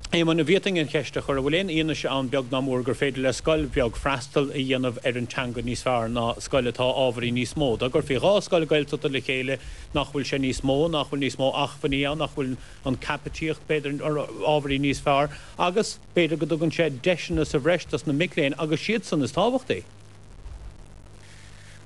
Éamoinn, ní bhfaighfinn an cheist a chur, an bhfuil aon fhianaise ann, beag ná mór, gur féidir le scoil bheag freastal a dhéanamh ar an teanga níos fearr ná scoil atá ábhairín níos mó? Dá gcuirfí dhá scoil Ghaeltachta le chéile, nach bhfuil sé níos mó, nach bhfuil níos mó achmhainní ann, nach bhfuil an caipitíocht, b'fhéidir, ábhairín níos fearr? Agus b'fhéidir go dtugann sé deiseanna sa bhreis dos na mic léinn agus siadsan is tábhachtaí?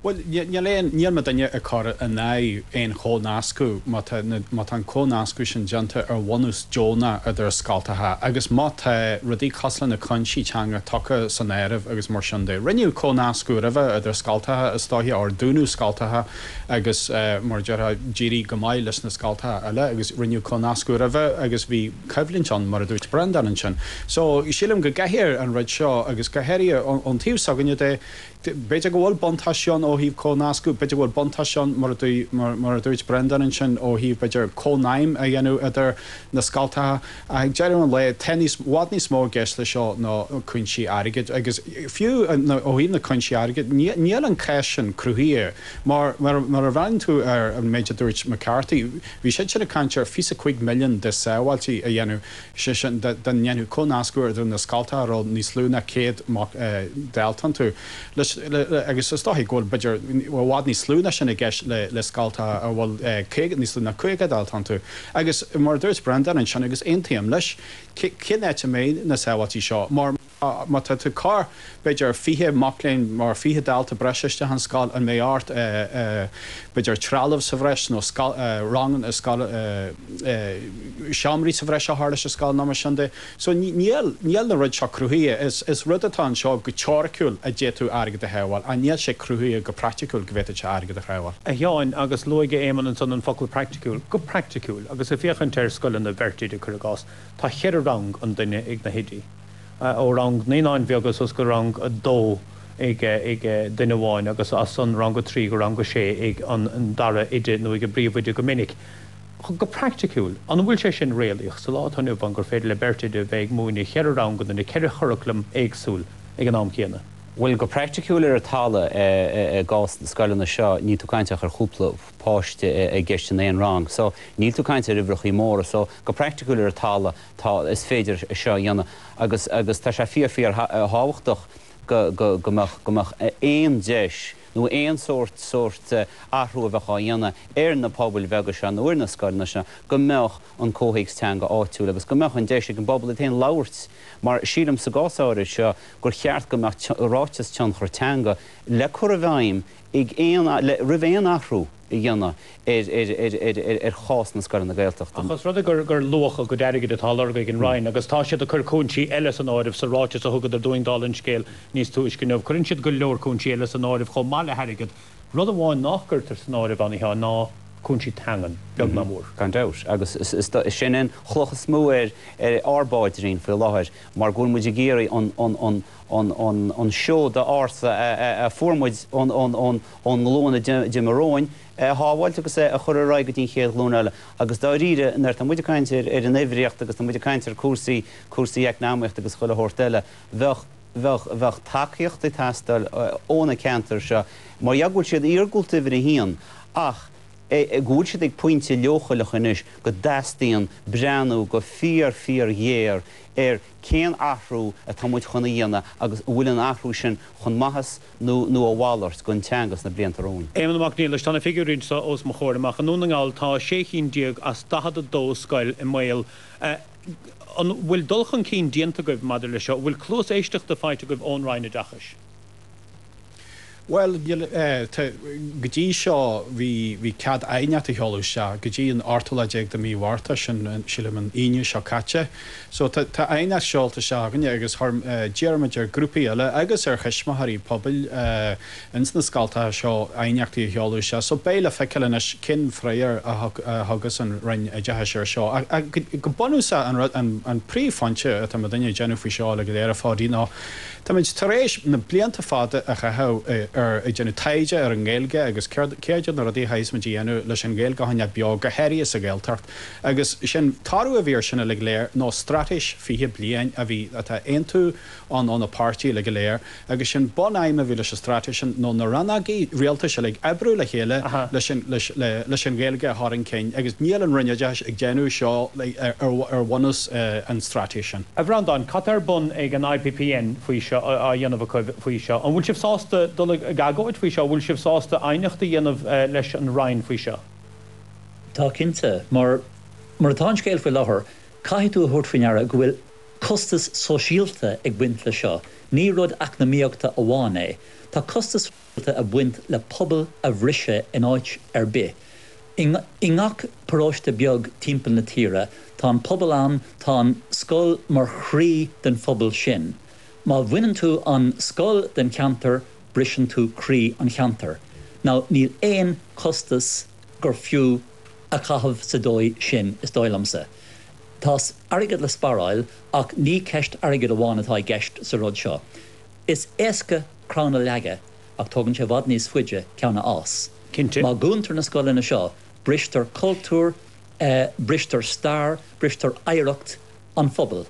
Bhuel, níl aon, níl mo dhuine ag cur in aghaidh aon chomhnascadh má tá, má tá an comhnascadh sin déanta ar bhunús deonach idir scoltacha agus má tá rudaí cosúil le cúinsí teanga tugtha san áireamh agus mar sin de. Rinneadh comhnascadh roimhe idir scoltacha is dóiche, ar dúnadh scoltacha agus mar a déarfá, d'éirigh go maith leis na scoltacha eile agus rinneadh comhnascadh roimhe agus bhí, coimhlint ann, mar a dúirt Breandán ansin. So, sílim go gcaithfear an rud seo, agus go háirithe ón taobh s'againne de, b'fhéidir go bhfuil buntáistí ann ó thaobh comhnascadh, b'fhéidir go bhfuil buntáistí ann, mar a dúirt Breandán ansin, ó thaobh b'fhéidir cónaidhm a dhéanamh idir na scoltacha, ach ag deireadh an lae, tá níos, i bhfad níos mó i gceist leis seo ná cúinsí airgid, agus fiú ó thaobh na cúinsí airgid, níl an cheist sin cruthaithe mar a bhreathnaíonn tú ar an méid a dúirt McCarthy. Bhí siadsan ag caint ar fiche cúig milliún de sábháiltí a dhéanamh, sé sin, dá ndéanfadh comhnascadh idir na scoltacha a raibh níos lú ná céad dalta iontu, leis, agus is dóiche go bhfuil, b'fhéidir, i bhfad níos lú ná sin i gceist le scoltacha a bhfuil níos lú ná caoga dalta iontu. Agus, mar a dúirt Breandán ansin, agus aontaím leis, cén áit a mbeidh na sábháiltí seo? Mar, Má tá tú ag cur, b'fhéidir fiche mac léinn, mar fiche dalta breise isteach i scoil, an mbeidh ort b'fhéidir trealamh sa bhreis nó ranganna, seomraí sa bhreis a chur leis an scoil nó mar sin de? So níl na rudaí seo cruthaithe. Is rud atá anseo go teoiriciúil a d'fhéadfadh tú airgead a shábháil ach níl sé cruthaithe go praiticiúil go bhféadfadh sé airgead a shábháil. A Sheáin, agus luaigh Éamonn ansan an focal praiticiúil, go praiticiúil agus ag féachaint ar scoileanna bheirt oide cuir i gcás, tá cheithre rang an duine ag na hoidí. ó rang naíonáin bheaga suas go rang a dó ag duine amháin agus as an rang a trí go rang a sé ag an dara oide nó ag an bpríomhoide go minic. Go praiticiúil, an bhfuil sé sin réalaíoch sa lá atá inniu ann gur féidir le beirt oide a bheith ag múineadh cheithre ranganna nó ceithre churaclam éagsúil ag an am céanna? Bhuel, go praiticiúil ar an talamh, i gcás na scoileanna seo, níl tú ag caint ach ar chúpla páiste i gceist in aon rang. So, níl tú ag caint ar uimhreachaí móra. So, go praiticiúil ar an talamh, Tá, is féidir é seo a dhéanamh agus agus tá sé fíor fíor thábhachtach go go go mbeadh go mbeadh aon deis nó aon sórt sórt athrú a bheadh á dhéanamh ar na pobail bheaga seo nó ar na scoileanna seo go mbeadh an comhthéacs teanga áitiúil agus go mbeadh an deis ag an bpobal iad féin labhairt mar sílim sa gcás áirid seo gur cheart go mbeadh ráiteas tionchar teanga le cur i bhfeidhm ag aon roimh aon athrú a dhéanamh ar chás na scoileanna Gaeltachta. Ach os rud é gur luach a gcuid airgid atá á lorg ag an Roinn, agus tá siad ag cur cúinsí eile san áireamh sa ráiteas a thugadar dúinn, dála an scéil, níos túisce inniu, cuireann siad go leor cúinsí eile san áireamh chomh maith le hairgead. Rud amháin nach gcuirtear san áireamh ann, a Sheáin, ná cúinsí teangan, beag ná mór. Gan dabht. Agus sin é an chloch is mó ar ár bpáidrín faoi láthair, mar go bhfuil muid ag iarraidh an seod ársa a fuair muid ón ón nglúin a d'imigh romhainn, é a shábháilt agus é a chur ar aghaidh go dtí an chéad ghlúin eile. Agus dáiríre, nuair atá muid ag caint ar an uimhríocht agus tá muid ag caint ar chúrsaí, cúrsaí eacnamaíochta agus chuile shórt eile, bheadh, bheadh, bheadh tacaíocht ag teastáil ó na ceantair seo mar gheall go bhfuil siad iargúlta uimhir a haon ach go bhfuil siad ag pointe leochaileach anois go dteastaíonn breathnú go fíor, fíor ghéar ar cén athrú atá muid chun a dhéanamh agus an bhfuil an athrú sin chun maitheas nó a mhalairt, don teanga sna blianta romhainn. Éamonn Mac Niallais, Tá na figiúirí anseo os mo chomhair amach. I nDún na nGall, tá sé cheann déag as 42 scoil i mbaol. An bhfuil dul chun cinn déanta agaibh maidir leis seo? An bhfuil cluas éisteachta faighte agaibh ón Roinn Oideachais? Bhuel, níl, tá, go dtí seo, bhí, bhí cead aighneachtaí a sheoladh isteach go dtí an ochtú lá déag de Mhí Mhárta, sin, sílim, an Aoine seo caite. So tá aighneacht seolta isteach againne agus d'iarr muid ar grúpaí eile agus ar thuismitheoirí pobail ins na scoltacha seo aighneachtaí a sheoladh isteach. So beidh le feiceáil anois cén freagar a thugas an Roinn Oideachais ar seo. Ach go bunúsach an rud, an príomhphointe atá muidinne ag déanamh faoi seo uilig go léir a Pháidí nó táimid tar éis na blianta fada a chaitheamh ar ag déanamh taighde ar an nGaeilge agus céard iad na rudaí a chaithfimid a dhéanamh leis an nGaeilge a choinneáil beo go háirithe sa Ghaeltacht. Agus an toradh a bhí ar sin uilig go léir, nó straitéis fiche bliain a bhí, atá, aontú ann ó na páirtí uilig go léir. Agus an bun-aidhm a bhí leis an straitéis sin, nó na rannógaí rialtais uilig oibriú le chéile leis an Ghaeilge a chur chun cinn. Agus níl an Roinn Oideachais ag déanamh seo ar bhunús an straitéis sin. A Bhreandáin, cad tá ar bun ag an IPPN faoi seo, á dhéanamh acu faoi seo? An bhfuil sibh sásta dul ag agóid faoi seo? An bhfuil sibh sásta aighneacht a dhéanamh leis an Roinn faoi seo? Tá cinnte. Mar atá an scéal faoi láthair, caithfidh tú a thabhairt faoi ndeara go bhfuil costas sóisialta ag baint le seo. Ní rud eacnamaíochta amháin é. Tá costas sóisialta ag baint le pobal a bhriseadh in áit ar bith. I ngach paróiste beag timpeall na tíre, tá an pobal ann, tá an scoil mar chroí den phobal sin. Má bhaineann tú an scoil den cheantar, briseann tú croí an cheantair, nó níl aon costas gur fiú a chaitheamh sa dóigh sin, is dóigh liomsa. Tá airgead le sparáil, ach ní ceist airgid amháin atá i gceist sa rud seo. Is éasca crann a leagadh, ach tógann sé i bhfad níos faide ceann a fhás. Cinnte. Má dhúntar na scoileanna seo, bristear cultúr, bristear stair, bristear oidhreacht. an phobail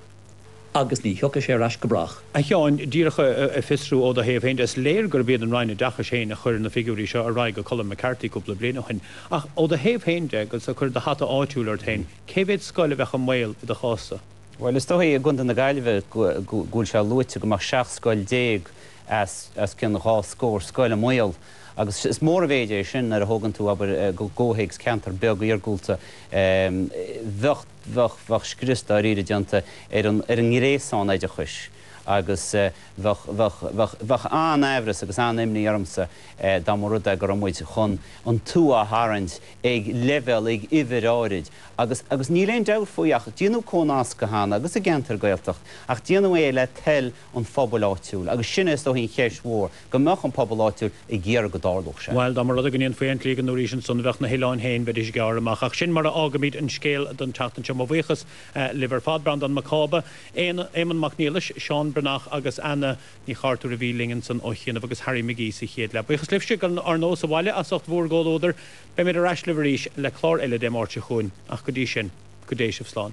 agus ní thiocfaidh sé ar ais go brách. A Sheáin, díreach a fiosrú ó do thaobh féin de, is léir gurb iad an Roinn Oideachais féin a chuir na figiúirí seo ar aghaidh go dtí Colm McCarthy cúpla bliain ó shin. Ach ó do thaobh féin de, agus ag cur do hata áitiúil ort féin, cé mhéad scoil a bheadh i mbaol i do chás-sa? Bhuel, is dóigh, i gContae na Gaillimhe, go bhfuil sé luaite go mbeadh 17 scoil os cionn dhá scór scoil i mbaol. Agus is mór an mhéid é sin nuair a thógann tú, abair, i gcomhthéacs ceantar beag iargúlta. Bheadh. bheadh, bheadh scrios dáiríre déanta ar an, ar an ngréasán oideachais agus bheadh, bheadh, bheadh, bheadh an-aimhreas agus an-imní ormsa dá mba rud é go raibh muid chun an tua a tharraingt ag leibhéal, ag uimhir áirid agus, agus níl aon dabht ar bith faoi ach déanadh comhnascadh cheana agus i gceantair Gaeltachta ach déanadh é le toil an phobail áitiúil agus sin é is dóigh an cheist mhór. go mbeadh an pobal áitiúil ag iarraidh go dtarlódh sé. Bhail, dá mba rud é go ndéanfaí an tslí go ndúraís ansan, bheadh na hoileáin féin, bheidís, gearr amach. Ach sin mar a fhágaimid an scéal don tseachtain seo. Mo bhuíochas libh ar fad, Breandán Mac Cába, Éamonn Mac Niallais, Seán Breathnach agus Anna Ní Chartúir a bhí linn ansan ó chianaibh, agus Harry McGee sa chéad leath. Buíochas libhse dar ndóigh sa bhaile as ucht bhúr gcomhluadar. Beimid ar ais libh arís le clár eile Dé Máirt seo chugainn. Ach go dtí sin, go dté sibh slán.